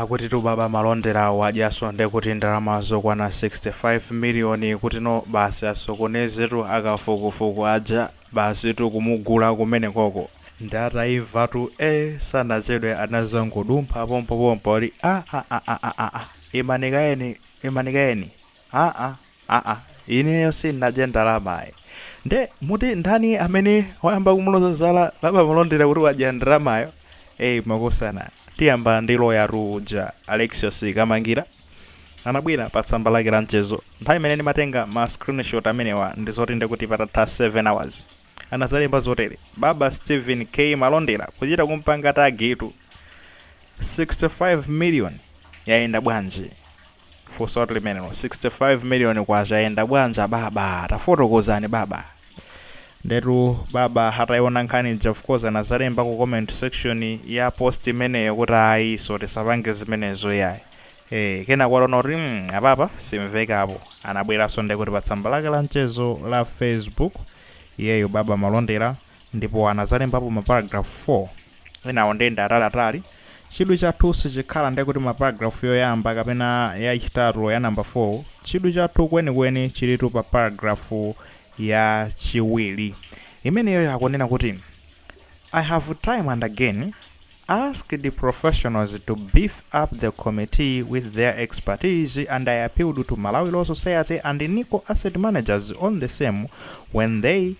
Akutitu baba malondera wadyaso ndekuti ndalama zokwana 65 million kutino basi asokonezetu akafukufuku aja basitu kumugula kumenekoko nde ataimvatu ee sanachedwe anazangodumpha pompopompo ali aaaaaaa imani kayeni imani kayeni. aa aa ineyo sindinadye ndalamayi nde muti ndani amene wayamba kumuloza zala baba malondera kuti wadya ndalamayo eyi makosana tiyamba ndi lawyertu uja alexius kamangira anabwera pa tsamba lake la mchezo nthawi imene ndimatenga ma screenshot amenewa ndi zoti ndikuti patatha 7 hours anazalemba zotere baba stephen k malondera kuchita kumpanga tagitu 65 million yayenda bwanji Funso limenelo. K65 miliyoni yayenda bwanji ababa? Tafotokozani baba. Ndetu baba ataiona nkhani ija of course anazalemba ku comment section ya post imeneyo kuti ayi so tisapange zimenezo iyayi. Eeh kenako ataona kuti mm apapa simvekapo anabweranso ndekuti pa tsamba lake la mchezo la Facebook iyeyu baba Malondera Ndipo anadzalembapo maparagrafu 4. Enawo nde ndi ataliatali. Chidwi chathu sichikhala ndekuti maparagrafu yoyamba kapena yachitatu ya namba 4. Chidwi chathu kwenikweni chilitu pa paragrafu yachiwiri. Imeneyoyo akunena kuti, I have time and again asked professionals to beef up the committee with their expertise and I appealed to Malawi Law Society and Nico Asset Managers on the same when they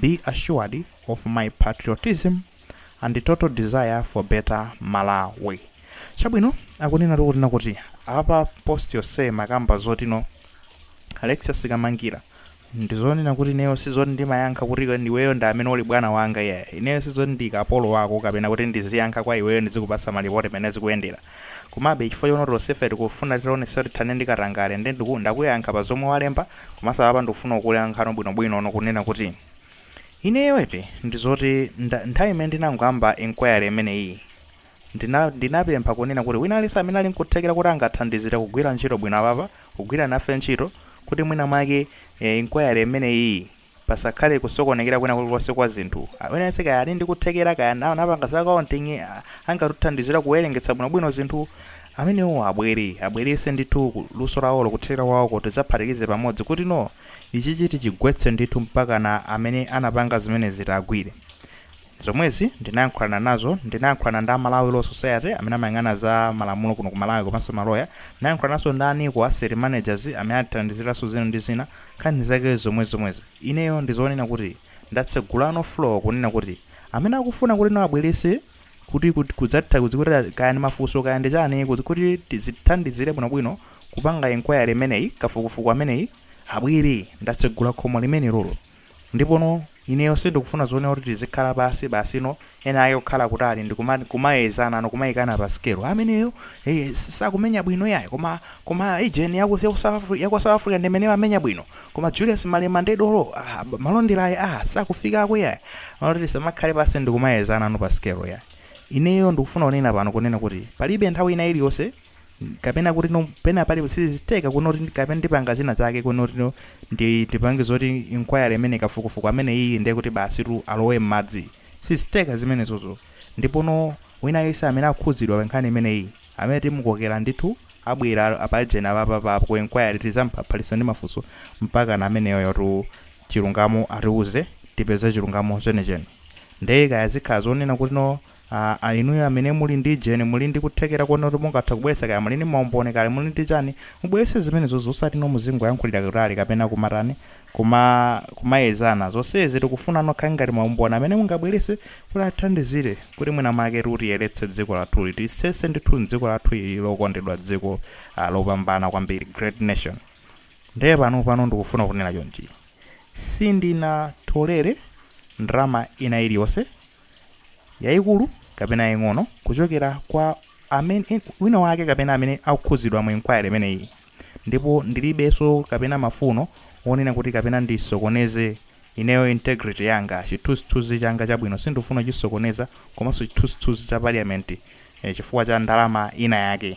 be assured of my patriotism and total desire for better malawi chabwino akunena tu kunena kuti apa post yonse makamba zotino alexius kamangira ndizonena kuti ineyo sizoti ndimayankha kuti iwe- iweyo ndi amene uli bwana wanga iyayi ineyo sizoti ndi kapolo wako kapena kuti ndiziyankha kwa iweyo ndizikupasa malipoti mmene zikuyendera Komabe, chifukwa choona kuti tonsefe tikufuna titaonetsetsa kuti tithane ndi katangale, nde ndiku ndakuyankha pa zomwe walemba, komanso apapa ndikufuna nkuyankheno bwinobwino no kunena kuti, ineyo eti, ndi zoti nda nthawi imene ndinangoyamba inquiry imeneyi, ndina ndinapempha kunena kuti wina aliyense amene ali nkuthekera kuti angathandizire kugwira ntchito bwino apapa, kugwira nafe ntchito, kuti mwina mwake, eh, inquiry imeneyiyi, pasakhale kusokonekera kwina kulikonse kwa zinthu, aliyense kaya ali ndi kuthekera kaya anapanga za accounting angatithandizira kuwerengetsa bwinobwino zinthu, amenewo abwere, abweretse ndithu luso lawolo, kuthekera kwawoko tidzaphatikize pamodzi kutino ichichi tichigwetse ndithu mpakana amene anapanga zimenezi tiagwire. Zomwezi ndinayankhulana nazo, ndinayankhulana ndi a Malawi Law Society amene amayang'ana za malamulo kuno ku Malawi komanso ma lawyer, ndinayankhulananso ndi a Nico Asset Managers amene atithandizirenso zina ndi zina, nkhani zake ndi zomwezi zomwezi. Ineyo ndi zonena kuti ndatsegulano floor kunena kuti amene akufuna kuti no abweretse kuti kut kudzatha kudzi kuti kaya ndi mafunso kaya ndi chani kut kuti zitithandizire bwino bwino kupanga enquiry imeneyi, kafukufuku ameneyi abwere, ndatsegula khomo limenelolo. Ndipono, ineyo sindikufuna zonena kuti tizikhala pansi basi, no, enaake kukhala kutali ndi kuma, kumayezana, no, kumayikana pa sikelo, ameneyo, eh, s, sakumenya bwino iyayi, koma, koma a jeni ya ku, ya ku South Afri, ya ku South Africa ndi imene imamenya bwino, koma Julius Malema ndi dolo, ah, ab, Malondera ayi, ah, sakufikako iyayi. Moti tisamakhale pansi ndi kumayezana, no, pa sikelo iyayi. Ineyo ndikufuna kunena pano, kunena kuti palibe nthawi ina iliyonse, kapena kuti no pena pali sizitheka kunoti kapena ndipanga zina zake kunoti no ndi ndipange zoti inquiry imene kafukufuku amene iyi ndiye kuti basitu alowe m'madzi sizitheka zimenezozo ndipono wina yense amene akhudzidwa pa nkhani imene iyi amene timukokera ndithu abwera apajena papa pa ku inquiry tizamphaphalitsa ndi mafunso mpakana ameneyotu chilungamo atiuze tipeze chilungamo chenecheni ndiye kaya zikhala zonena kuti no Aaa inuyo amene muli ndi jeni muli ndi kuthekera kuona kuti mungathe kubweretsa kaya muli ndi maumboni kaya muli ndi chani mubweretse zimenezozo osati no muzingoyankhulira kutali kapena kumatani kuma kumayezana zonsezi tikufuna nokha ngati maumboni amene mungabweretse kuti atithandizire kuti mwina mwaketu tiyeretse dziko lathuli tilisese ndithu dziko lathuli lokondedwa dziko aah lopambana kwambiri great nation nde panopano ndikufuna kunena chonchi sindinatolere ndalama ina iliyonse yaikulu kapena yaing'ono kuchokera kwa amene wina wake kapena amene akukhudzidwa mu inquiry imeneyi ndipo ndilibenso kapena mafuno onena kuti kapena ndisokoneze ineyo integrity yanga chithunzithunzi changa chabwino sindikufuna kuchisokoneza komanso chithunzithunzi cha parliament eh, chifukwa cha ndalama ina yake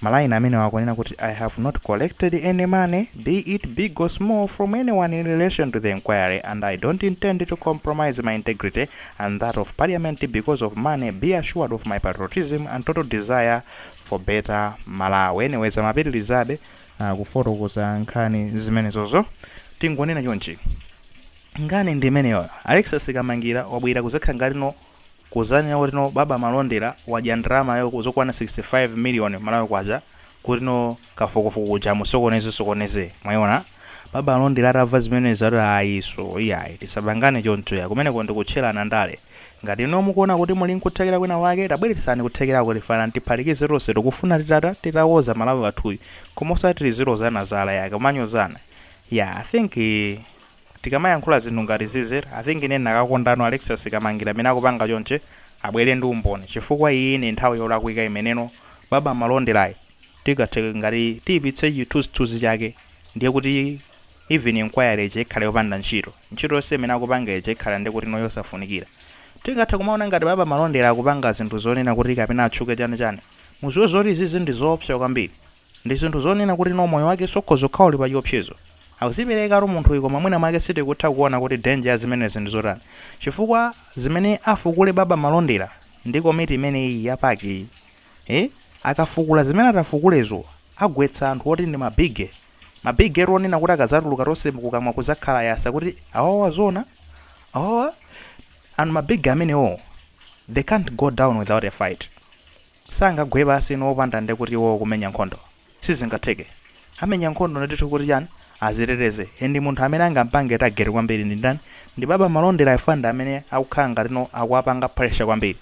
Ma line amenewa akunena kuti I have not collected any money, be it big or small, from anyone in relation to the enquiry and I don't intend to compromise my integrity and that of Parliament because of money, be assured of my patriotism and total desire for better Malawi. Anyways, amapitilizabe uh, kufotokoza nkhani zimenezozo tingonena chonchi nkhani ndi imeneyoyo alexis kamangira wabwera kuzakhala ngati no kuzanena kuti no baba malondera wadya ndalamayo zokwana 65 million malawi kwacha kuti no kafukufuku uja amusokoneze sokoneze mwayiona baba malondera atamva zimenezi ati ayiso iyayi tisapangane choncho ya kumeneko ndikutchelana ndale ngati no mukuona kuti muli nkuthekera kwina kwake tabweretsani kuthekerako tifuna tiphatikize tonse tikufuna titata titakonza malawi wathuyu koma osati tizilozana zala ya kumanyozana ya i think Tikamayankhula zinthu ngati zizi I think ine ndinakakondano Alexious Kamangila mmene akupanga chonchi abwere ndi umboni chifukwa iyiyi ndi nthawi yolakwika imeneno baba Malonderayi tingathe ngati tiyipitse chithunzithunzi chake ndiye kuti even enquiry ija ikhale yopanda ntchito ntchito yonse imene akupanga ija ikhale nde kutino yosafunikira tingathe kumaona ngati baba Malondera akupanga zinthu zonena kuti kapena atchuke chani chani muziwe zoti izizi ndizoopsa kwambiri Ndi zinthu zonena kuti no moyo wake ukhoza kukhala uli pa chiopsezo. Akuziperekatu munthuyu koma mwina mwake sitikutha kuona kuti danger ya zimenezo ndi zotani. Chifukwa zimene afukule Baba Malondera ndi komiti imeneyi ya PAC yi, ee, akafukula zimene atafukulezo agwetsa anthu oti ndi ma bigge, ma bigge tu onena kuti akazatuluka tonse kukamwa kuzakhala yasa kuti awawa zoona? Awawa? And ma bigge amenewo they can't go down without a fight. Sangagwe pansi no opanda nde kuti iwowo kumenya nkhondo sizingatheke amenya nkhondo ndithu kuti chani aziteteze and munthu amene angampange target kwambiri ndi ndani ndi baba Malondera chifukwa ndi amene akukhala ngati no akuwapanga pressure kwambiri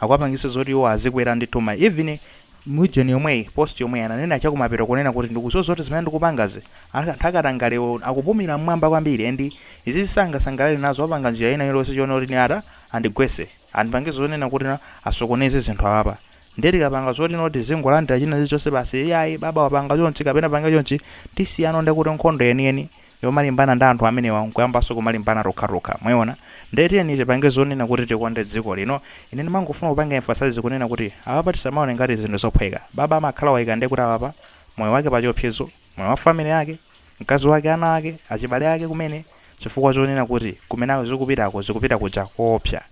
akuwapangisa zoti iwowo azikwera ndithu ma even mu region yomweyi post yomweyi ananena chakumapeto kunena kuti ndikuziwa zoti zimene ndikupangazi anthu akatangalewa akupumira mmwamba kwambiri and izizi sangasangalale nazo apanga njira ina iliyonse chonena kuti ine ata andigwetse. andipange zonena kuti na asokoneze zinthu apapa ndiye tikapanga zoti no tizingolandira china chilichonse basi iyayi baba wapanga chonchi kapena pange chonchi tisiyano ndiye kuti nkhondo yeniyeni yomalimbana ndi anthu amenewa nkuyambanso kumalimbana tokhatokha mwayiona ndiye tiyeni tipange zonena kuti tikonde dziko lino ine ndimangofuna kupanga emphasize kunena kuti apapa tisamaone ngati zinthu zophweka baba amakhala waika ndiye kuti apapa moyo wake pachiopsezo Moyo wa family yake, mkazi wake, ana ake, achibale ake kumene chifukwa chonena kuti kumene zikupitako zikupita kuja koopsa.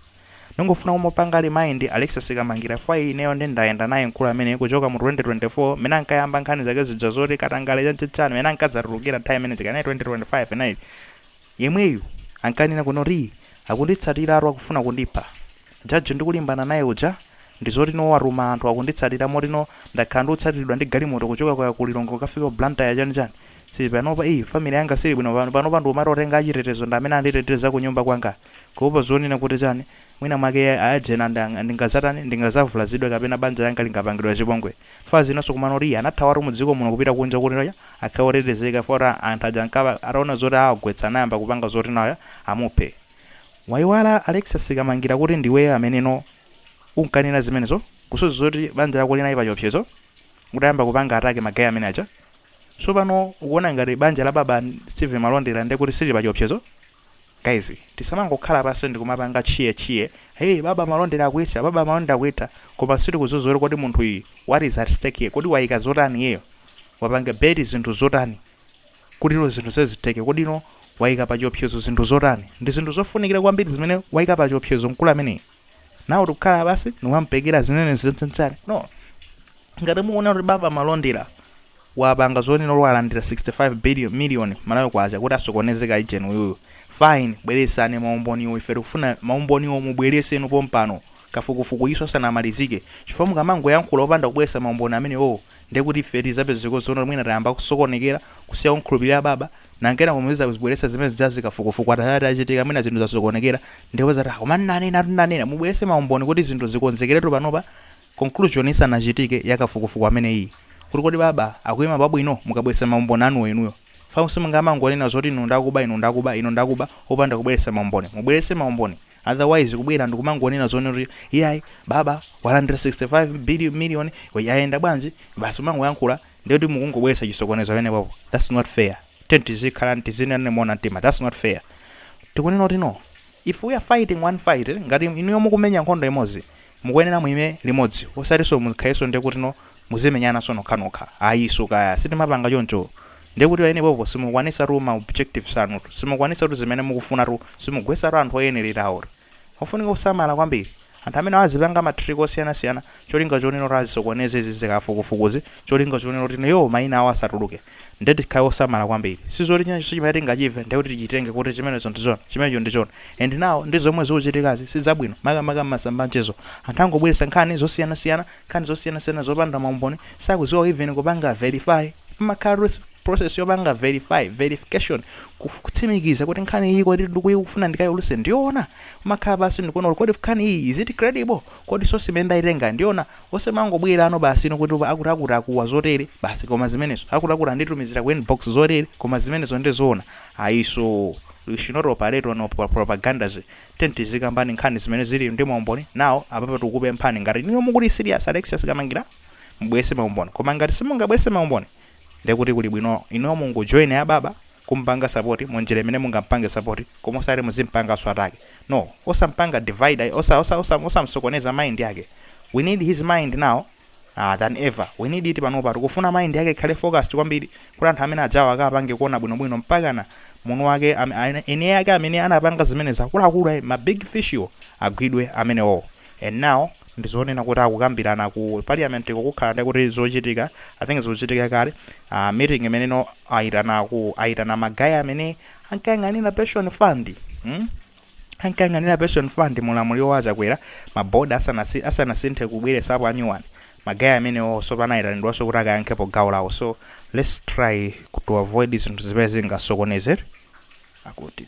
Ndingofuna kumupanga remind Alexious Kamangila chifukwa ineyo nde ndayenda naye mkulu ameneyu kuchoka mu 2024 mmene ankayamba nkhani zake zija zoti katangale chani chani mmene ankadzatulukira nthawi imene ija kaya inali 2025 inali Yemweyu ankanena kunoti akunditsatiratu akufuna kundipha. Judge ndikulimbana naye uja ndizoti no watuma anthu akunditsatira moti no ndakhala ndikutsatiridwa ndi galimoto kuchoka kaya ku Lilongwe kukafika ku Blantyre chani chani. So panopa ii family yanga siili bwino pano. Panopa ndikumati otenga achitetezo ndi amene anditeteza kunyumba kwanga kuopa zonena kuti chani mwina mwake a agent anga ndingazatani ndingazavulazidwe kapena banja langa lingapangidwe chipongwe. Chifukwa zinanso kumano oti anathawatu mudziko muno kupita kunja kuti akhale otetezeka chifukwa anthu aja ankaba ataona zoti awagwetsa anayamba kupanga zoti naye amuphe. Wayiwala Alexious Kamangila kuti ndiweyo ameneno unkanena zimenezo kusozi zoti banja lako linali pachiopsezo utayamba kupanga attack ma guy amene aja? So pano ukuona ngati banja la baba Steven Malondera ndekuti silili pachiopsezo? Guys tisamangokhala pansi ndikumapanga cheer cheer hey baba malondera akuitha baba malondera akuitha koma sitikudziwa kuti kodi munthu uyu what is at stake here kodi waika zotani iyeyo wapanga bet zinthu zotani kutino zinthu izi zitheke kodino waika pachiopsezo zinthu zotani ndizinthu zofunikira kwambiri zimene waika pachiopsezo mkulu ameneyi now tikukhala pansi nikumamupekera zimene zijazi no ngati mukuona kuti baba malondera wapanga zonena kuti walandira 65 million malawi kwacha kuti asokoneze ka agent uyuyu fine bweresani maumboniwo ife tikufuna maumboniwo mubwereseni pompano kafukufuku iso sanamalizike chifukwa mukamangoyankhula opanda kubweresa maumboni amenewo Ndiye kuti ife tizapezeko zoona mwina tayamba kusokonekera, kusiya kumkhulupirira baba, nanga kenako muzizabweretsa zimene zijazi kafukufuku ata, atachitika mwina zinthu zasokonekera ndiye muzati ah koma nnanenatu nnanena, mubweretse maumboni kuti zinthu zikonzekeretu panopa conclusion isanachitike ya kafukufuku ameneyiyi kuti kodi baba akuyima pabwino mukabweretsa maumboni anuwo inuyo chifukwa simungamangonena zoti iwo ndakuba iwo ndakuba iwo ndakuba opanda kubweretsa maumboni, mubweretse maumboni. otherwise kubwera ndikumangonena zonena kuti iyayi baba walandira 65 million yayenda bwanji basi kumangoyankhula ndiye kuti mukungobweretsa chisokonezo pamenepopo that's not fair tiyeni tizikhala tizinena moona mtima that's not fair tikunena kuti no if we are fighting one fight ngati inuyo mukumenya nkhondo imodzi Mukuyenera muime limodzi osatiso mukhaleso ndekutno muzimenyanaso nokhanokha I saw kaya sitimapanga choncho ndekuti paenepopo simukwanisatu ma objectives anutu simukwanisatu zimene mukufunatu simugwesatu anthu oyenelerawo ofunika kusamala kwambiri anthu amenewa azipanga ma trick osiyanasiyana cholinga chonena kuti azisokoneze izizi kafukufukuzi cholinga chonena kuti iwowo maina awo asatuluke Ndiye tikhale osamala kwambiri. Sizoti chinachonse chimene tingachive ndiye kuti tichitenge kuti chimenecho ndi choona, chimenecho ndi choona. And now ndi zomwe zikuchitikazi si zabwino, makamaka m'masamba anchezo. Anthu angobweretsa nkhani zosiyanasiyana, nkhani zosiyanasiyana zopanda maumboni, sakudziwa even kupanga verify. Pamakhalatu process yopanga verify, verification, kuf, kutsimikiza kuti nkhani iyi kodi ndikuyikufuna ndikaiulutse ndiyoona? Kumakhala pansi ndikuona kuti kodi nkhani iyi is it credible? Kodi source imene ndaitengayi ndiyoona? Osamangobwerano basi inu kuti akuti akuti akuwa zotere basi koma zimenezo akuti akuti anditumizira ku inbox zotere koma zimenezo nde zoona ayiso we should not operate on propagandas tiyeni tizikambani nkhani zimene zili ndi maumboni now apapa tikukupemphani ngati inuyo mukuli serious Alexious Kamangila mubweretse maumboni koma ngati simungabweretse maumboni ndekuti kuli bwino inuyo mungojoina baba kumupanga support munjira imene mungampange support koma osati muzimpanganso attack no osampanga divide ayi, osa osa osa osamsokoneza mind yake we need his mind now uh, than ever we need it panopa tikufuna mind yake ikhale focused kwambiri kuti anthu ameneajawa akapange kuona bwinobwino mpakana mwini wake am- ane- eni yake amene anapanga zimene zakuluakulu ayi, ma big fish iwo agwidwe amenewo And now ndi zonena kuti akukambirana ku parliamentko kukhala ndi kuti zochitika I think zikuchitika kale uh, meeting imeneyo aitana ku aitana magaya amene ankayang'anira pension fund hmm? ankayang'anira pension fund mu ulamuliro wa Chakwera mabodi asanasi- asanasinthe kubweresapo anyuwani magaya amenewonso anayitanidwanso kuti akayankhepo gawo lawo so let's try to avoid zinthu zimene zingasokonezere akuti